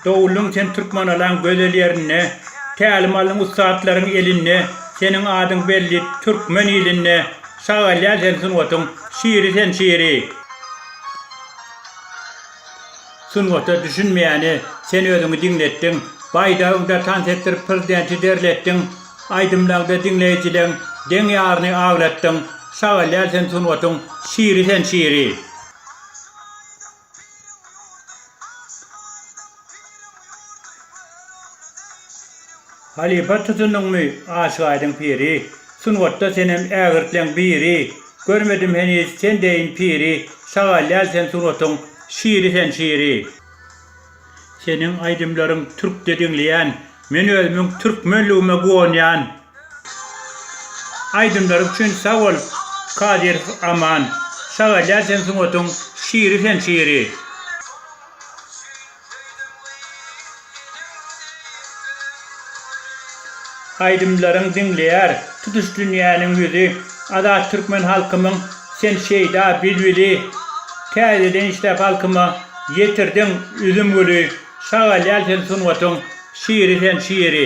Dowulyň sen Türkmenalaň gözel ýerinde, Tälim aldyň ussatlaryň elinde, Seniň adyň belli türkmen ilinde, Sag alýar sen sungatyň şiri sen şiri. Sungata düşünmeýäne sen özüňi diňletdiň, Baýdagyňda tans etdirip prezidenti derletdiň, Aýdymlaňda diňleýjileň deň ýaryny aglatdyň, Sag alýar sen sungatyň şiri sen şiri. Piriň ýurdy, Aşyk Aýdyň piriň ýurdy, Görogly deý şiriň ýurdy. Halypa tutundyňmy, Aşyk Aýdyň piri, Sungatda senem ägirtleň biri, Görmedim heniz sen deýin piri, Şagalýal sen sungatyň şiri sen şiri. Seniň aýdymlaryň türkçe diňleýän men özümiň türkmenligime guwanýan. Aýdymlaryň üçin sag bol Kadyrow Aman. Şagalýar sen sungatyň şiri sen şiri. Aýdymlaryň diňleýär tutuş dünýäniň ýüzi Azat türkmen halkymyň sen şeýda bilbili Täzeden işläp halkyma ýetirdiň üzüm güli Şagal ýaly sen sungatyň şiri sen şiri.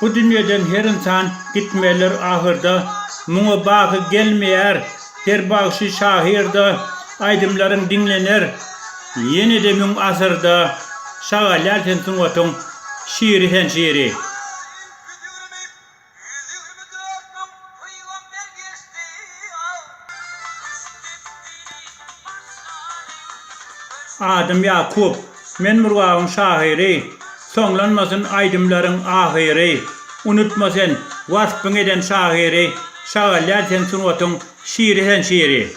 Bu dünýeden her ynsan gitmelidir ahyrda, Muňa baky gelmeýär her bagşy şahyrda, Aýdymlaryň diňlener ýene-de müň asyrda, Şagalýar sen sungatyň şiri sen şiri. Ýüz ýigrimi dört müň pygamber geçdi aw. Adym Ýakup. Men Murgabyň şahyry. Soňlanmasyn aýdymlaryň ahyry. Unutma sen, waspyň eden şahyry, Şagalýar sen sungatyň şiri sen şiri.